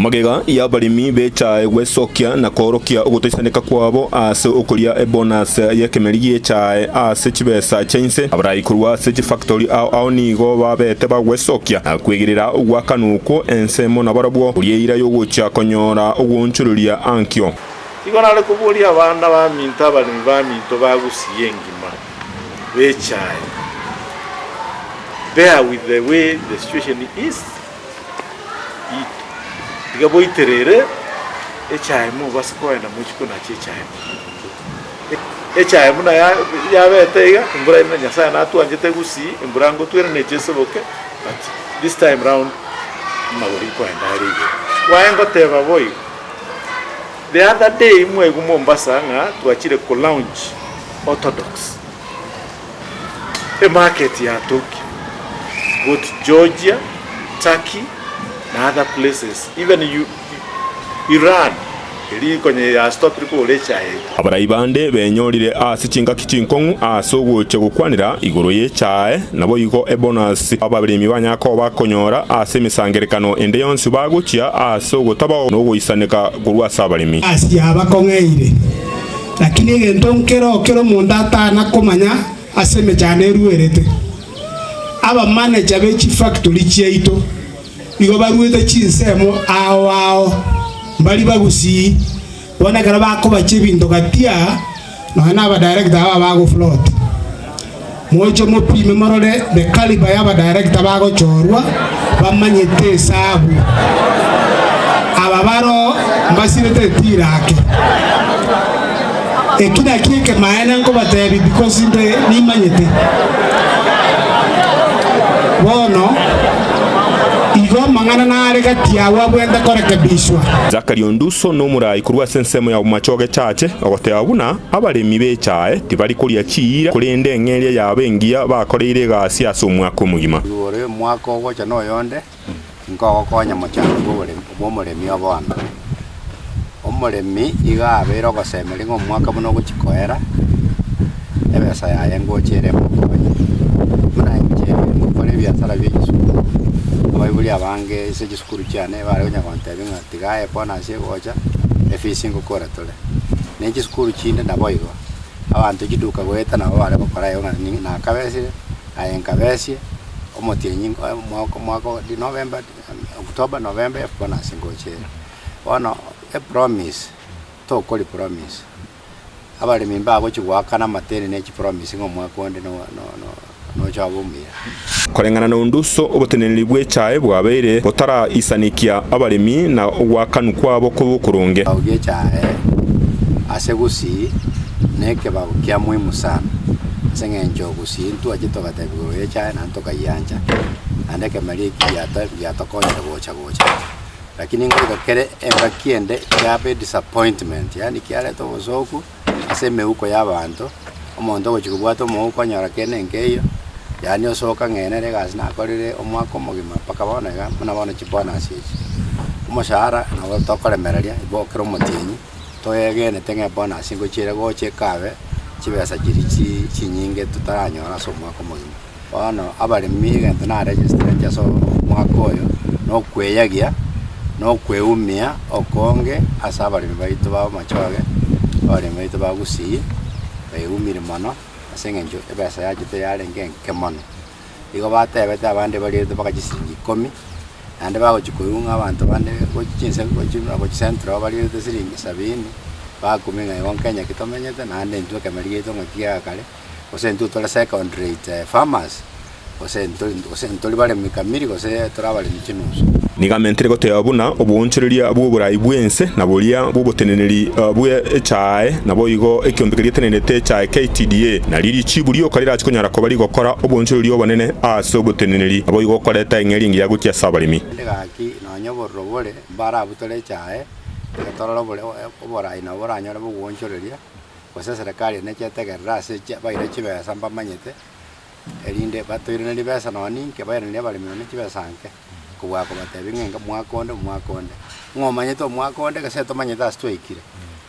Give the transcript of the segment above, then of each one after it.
Magega y'abaremi bechae gwesokia na koorokia ogotaisaneka kwabo ase okoria ebonase y'ekemeri giechae ase chibesa chia inse. Abarai korwa ase chifactori ao ao nigo babete bagwesokia na kwegerera ogwakanwa okwo ensemo nabarabwo, oria eira y'ogochia konyora ogwoonchoreria ankio. Nigo nare koboria abana baminto abaremi baminto ba Gusii engima bechae, bear with the way the situation is. Iga boiterere echaye mobase kogenda mochie konacha echaye mogondo. Echaye buna yabete iga, embura ere na Nyasaye natwanchete gusii, embura ngotwa ere neche eseboke, but this time round amagoro ikoenda are igoro. Kwaye ngoteba boigo, the other day mwaigwa Mombasa ng'a twachire kolaunch Orthodox. Emarket ya Tokyo, both Georgia, Turkey na other places, even Iran eria konya ya stop kogora echae eye. Abarai bande benyorire ase chingaki chinkong'u ase ogocha gokwanera igoro y'echae, naboigo ebonus abaremi banyara koba bakonyora ase emesangererekano ende yonsi bagochia ase ogotabao nogoisaneka korwa ase abaremi. Asia bakong'eire. Lakini egento nkere o kera omonto atana komanya ase emechando eruerete, abamanecha be chifactori chiaito nigo baruete chinsemo ao ao, mbari bagusii, bono ekero bakobacha ebinto gati aa, nonya na abadirector aba bagofloat. Moche mopime morore the calibre ya abadirector bagochorwa bamanyete esabu. Aba baroo mbasirete etira ake. Eki nakio ekemaene nkobatebi because inde nimanyete. Bono igo amang'ana nare gati yao abwente korekebishwa. Zachary Onduso nomoraai korwa ase ensemo ya Bomachoge Church ogoteba buna Abaremi b'echae tibari koria chiira, korende eng'eria yabo engiya bakoreire egasi ase omwaka omogima. Igoro omwaka ogocha noyonde, inki ogokonya mochango bw'oboremi bw'omoremi o bono? Omoremi iga abeire ogosemeria ng'a omwaka buna ogochia koera, ebesa yaye ngocha ere emokonye. Buna inche ngokora ebiasara bi'echisukuru, abaibori abange ase chisukuru chiane bare konya gontebia ng'a tiga aye bono ase egocha, efisi ngokora tore. ne chisukuru chinde naboigo, abanto chiduka goeta nabo bare gokora igo ng'a ni- nakabesire, aye nkabesie, omotienyi nko- eh omwaka omwaka o di- November di- eh October, November efu bono ase ngocha ere. Bono epromise, tokori promise, abaremi mbagochi goakana amateeni ne chipromise ng'a omwaka onde no- no- no- nocha abe omuya. Koreng'ana na onde uso oboteneneri bw'echae bwabeire botaraisanekia abaremi na ogwakanwa kwabo kobe okoronge. Ekebago gi'echae ase gusii nekebago kia muhimu sana, ase engencho ogusii ntwache togateba igoro y'echae naende tokayiancha, naende ekemeria eki giatokonyire gocha gocha. Lakini ngoika kere engaki ende kiabe disappointment, yaani kiareta obosooku. ase emeuko y'abaanto, omonto ogochia kobwata omouko onyora kende nkeiyo, yaani osooke ang'enere egasi nakorire omwaka omogima mpaka bono iga, buna bono chibonus echi. Omoshahara nabo tokoremereria, igo kera omotienyi toegenete ng'a ebonus ngochia ere gocha ekabe chibesa chiria chi chinyinge totaranyora ase omwaka omogima. Bono abaremi egento naregisteretie ase omwaka oyo, na okweyagia na okweumia okonge ase abaremi baito ba amachoge, abaremi baito ba gusii, baeumire mono ase eng'encho ebesa yachete yarenge enke mono. Igo batebete abande bariete mpaka chisiringi ikomi, naende bagochia koigwa ng'a abanto bande gochia chinsa gochia buna gochia central iga bariete siringi sabini, bakumia ng'a igo nkenya ki tomenyete, naende intwe ekemerero giaito ng'aki giakare. gose intwe tore second rate farmers, gose intwe gose ntori baremi kamiri gose tore abaremi chinusu. Nigo mentire goteba buna oboonchoreria bw'oborai bw'ense na boria bw'oboteneneri bwe echae, naboigo ekiombe keria getenenete echae KTDA, nario richiibu rioka rirache konyara koba rigokora oboonchoreria obonene ase oboteneneri, naboigo okoreta eng'eria engiya gochia ase abaremi. Naende gaki nonya obororo bore mbarabutore echae, reka torore oborai nabo boranyore bogoonchoreria. Gose eserekari ene chetegerere ase echi abaire chibesa mbamanyete, erinde batoiranerie besa nonya ninki, abairanerie abaremi nonya ne chibesa nke, kobua kobatebia ng'a enga omwaka onde, omwaka onde. Ng'a omanyete omwaka onde, gese tomanyete ase twaikire,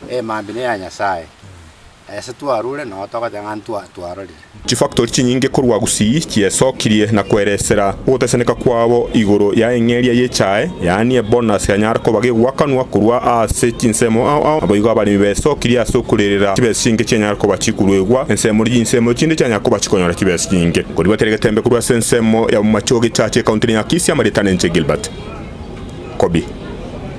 emambia neya Nyasaye. Ase twarure, nonya togoteba ng'a ntwa twarorire. Chifactori chinyinge korwa Gusii chiyesokirie na kweresera ogoteseneka kwabo igoro ya eng'eria y'echae, yaani ebonus yanyara koba gegwakanwa korwa ase chinsemo ao ao. Naboigo abaremi besokirie ase okorerera chibesa chinke chianyara koba chikoruegwa ensemo ne chinsemo echinde chianyara koba chikonyora chibesa chinyinge. Koribatera egetembe korwa ase ensemo ya Bomachoge Church Ekaunti ne Nyakisia, Marieta Nenche Gilbert, Kobi.